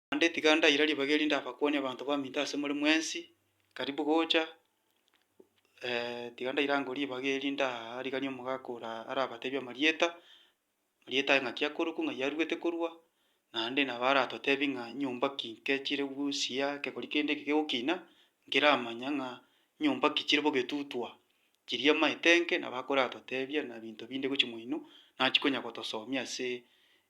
Naende tiga ndaira ribaga eri ndabakwonie abanto baminto asemore mwensi, karibu gocha, tiga ndaira ango ribaga eri ndariganie omogaka ore arabatebie amarieta, amarieta aye ng'aki akorokwa, ng'ai aruete korwa, naende nabo aratotebie ng'a nyomba ki inke chire gosia, kegori kende eke kegokina, nkeramanya ng'a nyomba ki chire bogetutwa, Chiria amaetenge nabo akoratotebia na binto binde gochia moino, nachi konya gotosomia ase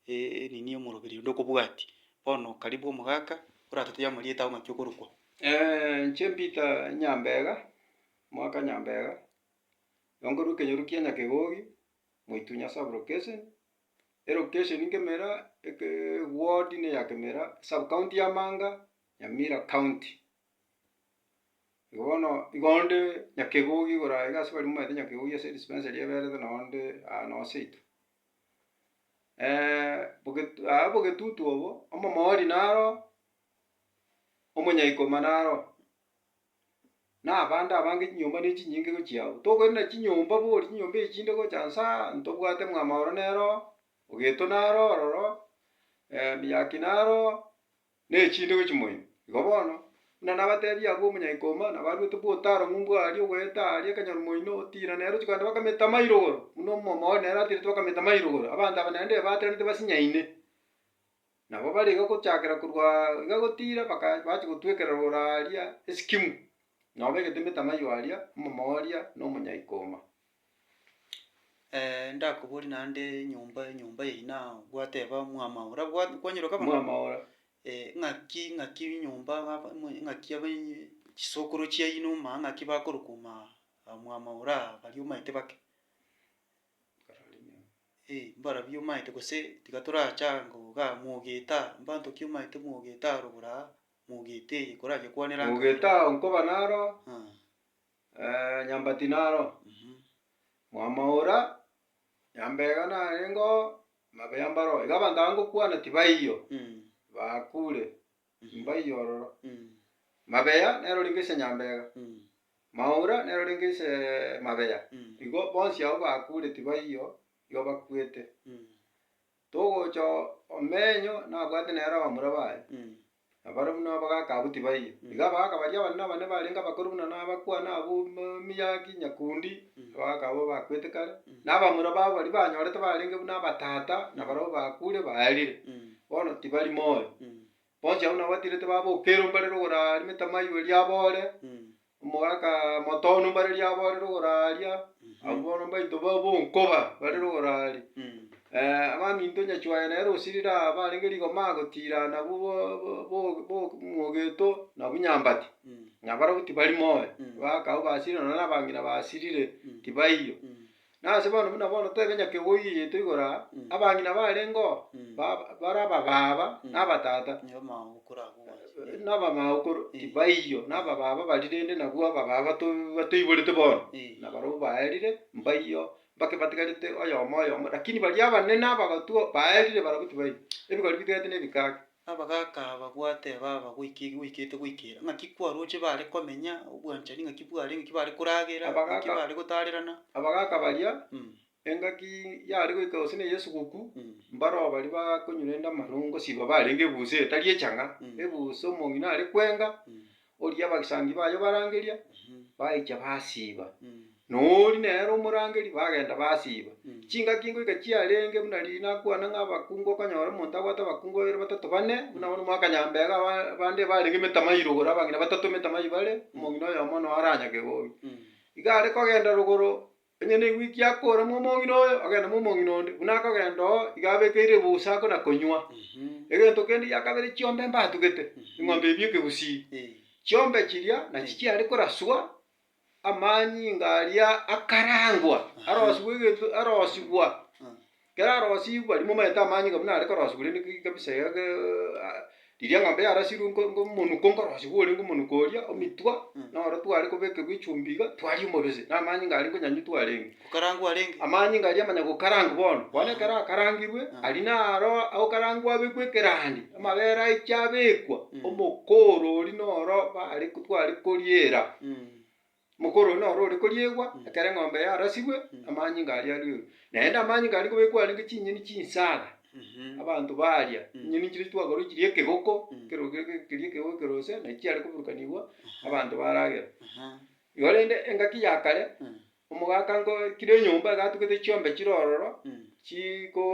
nini omoroberi onde okobwatia. Bono karibu omogaka oratotebie amarieta ao ng'aki okorokwa. Inche Peter Nyambega, omogaka Nyambega, nabo nkorwa ekenyoro kia Nyakegogi, Moitunya sub location, elocation Kemira, eke ward ne ya Kemira, sub county ya Manga, Nyamira county. Igo bono, igo onde nyakegogi igoro aye iga ase baria momanyete nyakegogi ase edispensa eria eberete nonye onde aa nonye seito. obogetu aa obogetutu obo, omomori naro, omonyaikoma naro, na abande abange chinyomba ne chinyinge gochia agwo. Tokoirana chinyomba bori chinyomba echi chinde gocha nsa aa, ntobwate mwama oro nero oo, ogeto naro ororo, miyaki naro oo. ne chintogo chimoino. Igo bono, buna nabateebia abwo omonyaika omo, nabaruete bwa otaaro ng'umbu aaria ogoeta aaria ekenyoru moino, otiira nere ochiko naende bakametama irogoro, buna omomo oo nere atirete bakametama irogoro. Abanto aba naende ebatenetie basinyaine. Nabo bare iga gochakera korwa iga gotiira baka bachia gotwekera rogoro aaria esikimu, nabo begete emetama aywo aaria, omomo oria na omonyaika omo. ndakoborie naende nyomba nyomba eyio na gwateba mwamao ra gwa kwanyeroka bono? Mwamao ra. ng'aki ng'aki nyomba aba mwe- ng'aki aba chisokoro chiayino maa ng'aki bakorokwa maa mwamao ra baria omanyete bake. Eeh mbarobio omanyete gose tiga torachaa ngo iga mogeta mbanto ki omanyete mogeta aroro bora aa, mogeta eye koragekwanera anga. Mogeta oo nkoba naro, nyomba tinaro, mwamoura, nyomba iga narengoo, mabuya mbaro iga abanto aba ngokwana tibaiyo, bakure, mbaiyo ororo. Mabeya nero riko ase nyomba iga, maura nero riko aseee mabeya, igo bonsi abwo bakure tibaiyo, igo bakwete. Togocha oo omenyo nabwate nere abamura baye. Na barabwo nao bagaaka abwo tibaiyo. Igo abagaaka baria abane na abane barenge abakori buna na abakwa na abwo miyaki nyakundi, abagaaka abwo bakwete kare, na abamura babo baria banyorete barenge buna abatata na barabwo bakure baerire, bono tibari moyo. Bonsi abwo nabo batirete babokerwa mbarere ogoraremete amaywe riabo ore, Omogaka motono mbare riabo are rogoro aaria, abwo bono mbaito ba bonkoba bare rogoro aaria. Abaminto onye chwaye nere osirire aa barenge rigoma agotirana abwo bo- bo- bo- bo- mwogeto na bunyambati, na barobwo tibari moyo, abagaaka abwo basirire nonya na abang'ina basirire, tibaiyo. Nase bono buna bono toebe ng'a kegogio giaito igoro aa, abang'ina barengeo ba- ba- bare abababa na abatata, na abamaokoro tibaiyo, na abababa baria rende nabwo abababa to- batoiborete bono, na barobwo baerire mbaiyo, mbake batigarete oyomo oyomo, rakini baria abanene abagotwa baerire barabwo tibaiyo, ebigori bitigarete na ebikake. Abagaaka aba gwateba baba goike goikete goikera, ng'aki kwaroche bare komenya, obwanchani ng'aki bware, ng'aki bare koragera, ng'aki Abagaaka. bare gotarerana. Abagaaka baria, Mm, engaki yare goika gose ne Yeso gokwu, mm, mbaroo baria bakonyurenta amarongosiba barenge ebuso etari echang'a, Mm. ebuso omong'ina are kwenga, mm, Oria abagisangio baye obarangeria, baicha basiiba. Na oria nere omorangeri, bagenda basiiba. Chingaki ngoika chiarenge buna riria nakwana ng'a abakungu okonyora omonto abwate abakungu babere, batato, bane, buna bono omwaka nyambega aba- bande barenge emetamayi rogoro, abang'ina batato emetamayi bare, omong'ina oyomo noyo aranyage bobe. Iga are kogenda rogoro. Onye negwiki akooremwa omong'ina oyo, agende momong'ina onde, buna akogenda oo iga abekeire ebusa ako na konywa. Egento kende gia kabere chiombe mbatugete, eng'ombe ebi ekegusii. Chiombe chiria nachi chiare koraswa amanyinga aria akarangwa, arosigwa egento, arosigwa. Kerarosigwe aria momaete amanyinga buna are korosigwa rende ki- kabisa iga ge riria eng'ombe yarasirwe nko- nkomonuko nkorosigwa ore nkomonuko oria, omitwa, noro tware kobekerwa echumbi iga, twaria omobese, na amanyinga aria nkonyanywa twarenge. Gokarangwa arenge. Amanyinga aria amanya gokarangwa bono. Bono ekero akarangirwe, aria naro agokarangwa abekwe ekerandia, amabere aichie abekwa, omokoro oria noro bare tware koriera. Omokoro oyo noro ore koriegwa ekero eng'ombe yarasigwe, amanyinga aria arwerwe. Naende amanyinga aria kobekwa arenge chinyeni chinsaga, abanto baria chinyeni chiria twakorwa chiria ekegoko, ekero keria ekegoko ekerose, naki chiare koburukanigwa, abanto baragere. Igo rende engaki ya kare, omogaka nkoe kera enyomba egatugete chiombe chire ororo, chiko.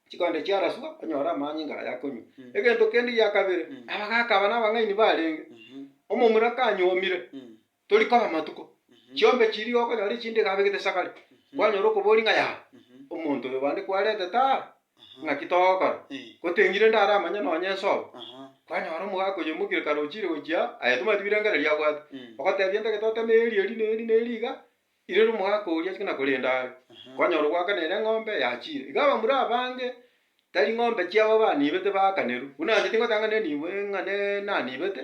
chikonde chiaraswa, onyore amanyinga aya akonywa. Mm. Egento kende gia kabere, Mm. aba gakaba n'abang'aini barenge, Mhm. omomura kanyomire, Mm. tori koba amatuko, Mhm. chiombe chiria iga okonyora echinde iga abegete sagare, Mhm. kwanyora okoboria ng'a yaya, Mhm. omonto oyo bande kwarentete aa, Aha. ng'aki togokora? Eh. Goteng'ire inde aramanye nonye ensobi. Aha. Kwanyora omogaka oyo omokire kare ochire gochia aa, aye tomanyeti birengererio abwate, Mm. ogotebia intagete oteme eri, eri, na eri, na eri iga, Rirorio omogaka oria achike na korenda are, kwanyora ogoaka nere eng'ombe yachiire. Iga abamura abange tari ng'ombe chiabo baniibete baakanerwe, buna nache tingotanga nenibo ng'a ne naniibete.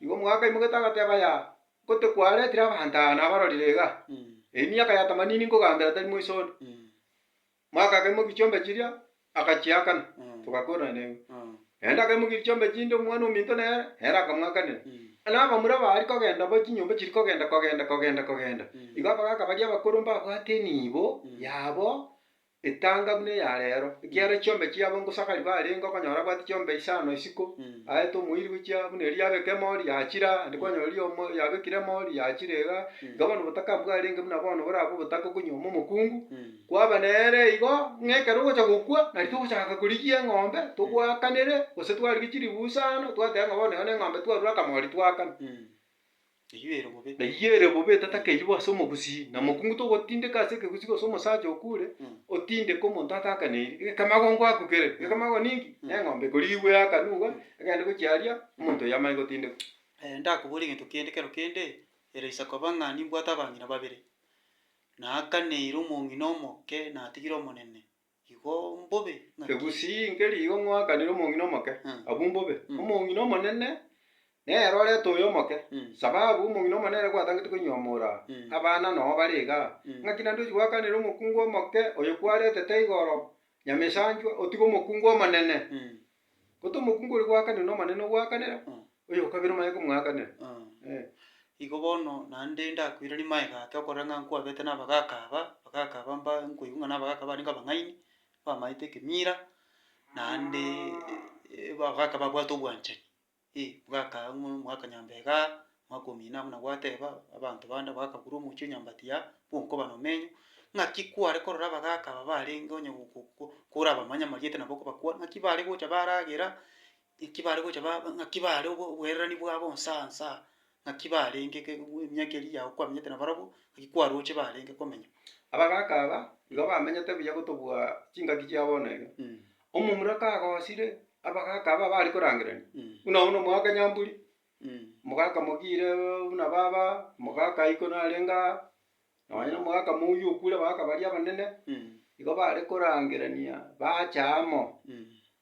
Igo omogaka aimogete agateba aya, ngote kwaretire abanto aya nabarorire igaa, emiaka ya tamanini nkogambera tari moiso onde. Mwakagemokia chiombe chiria, akachiakana, togakoorana naigwe. Naende akaimokia chiombe chinde omwana ominto nere, nere akamwakanera. Na abamura baria kogenda bo chinyomba chiri kogenda kogenda kogenda kogenda, igo abagaaka baria abakoro mbabwate enibo yabo etanga buna eya rero, ekiagera chiombe chiabo ngosakari barenge okonyora abwate chiombe isano isiko, aete omoiri gochia buna erio yabeka emori yachire aa, naende kwanyora riria omo- yabekire emori yachire igaa, iga bono obotaka mbwarenge buna bono borabe obotaka okonywoma omokungu. Kwaba nere igo ng'a ekero ogocha gokwa, nari togochaka korigia eng'ombe, togwakanere, gose twarigie chiribusa aano, twateba ng'a bono eye neng'ombe twarure akamori twakana. Eyio ere bobe. Na eyio ere bobe tatakeyia bo ase omogusii, na mokungu togotindeka ase ekegusii gose omosacha okure, otindeke omonto atakaneiri, egekemagongo akukere, egekemago ninki? Neng'ombe ekorigwe yakanu iga, egende gochia aria, omonto oyio amanye gotindekwa. Ndakobore egento kende kero kende, ere isa koba ng'a nimbwate abang'ina babere. Na akaneira omong'ina omoke natigire omonene, igo mbobe ng'aki? Egusii nkeri igo ng'oakanire omong'ina omoke, Mm. abwo mbobe. Mm. Omong'ina omonene nere orete oyo omoke, Mm. sababu omong'ina omonene gwatangete koinyomoora Mm. abana noo bare iga. Mm. Ng'aki naende ochi goakanera omokungu omoke oyo kwaretete igoro, Nyamesanchwa, otige omokungu omonene? Mm. Goto omokungu oria gwakanire n'Omonene ogwakanera, Mm. oyo o kabere omanye komwakanera. Ah. Eh. Igo bono naende ndakoirarie maega ake okorora ng'a nkwabete na abagaka aba, abagaka aba mba nkoigwa ng'a na abagaka aba nigo abang'aini, bamaete ekemira, naende abagaka babwate obwanchani. Ee, bwakagwa mono omwaka nyambega, omwaka omino abwo na gwateba abanto bande bakagura omochie o nyambati ya bw'onkoba nomenyo, ng'aki kware korora abagaaka aba barenge onye go- go- go korabamanye amarieta nabo okobakwana, ng'aki bare gocha baragera, ng'aki bare gocha ba ng'aki bare obo oboererani bwabo nsa nsa. ng'aki barenge ke- bu- emiaka eria yao kwamenyete nabarabwo, ng'aki kwaroche barenge komenya. Abagaka aba nigo bamenyete buya gotobua chingaki chia bono iga. Omomura kagosire abagaka aba bare korangerania, buna obo na omogaka Nyamburi, omogaka Mogire buna baba, omogaka iko narenge aa, nonye na omogaka Mouri okure abagaka baria abanene, igo bare korangerania bache amo.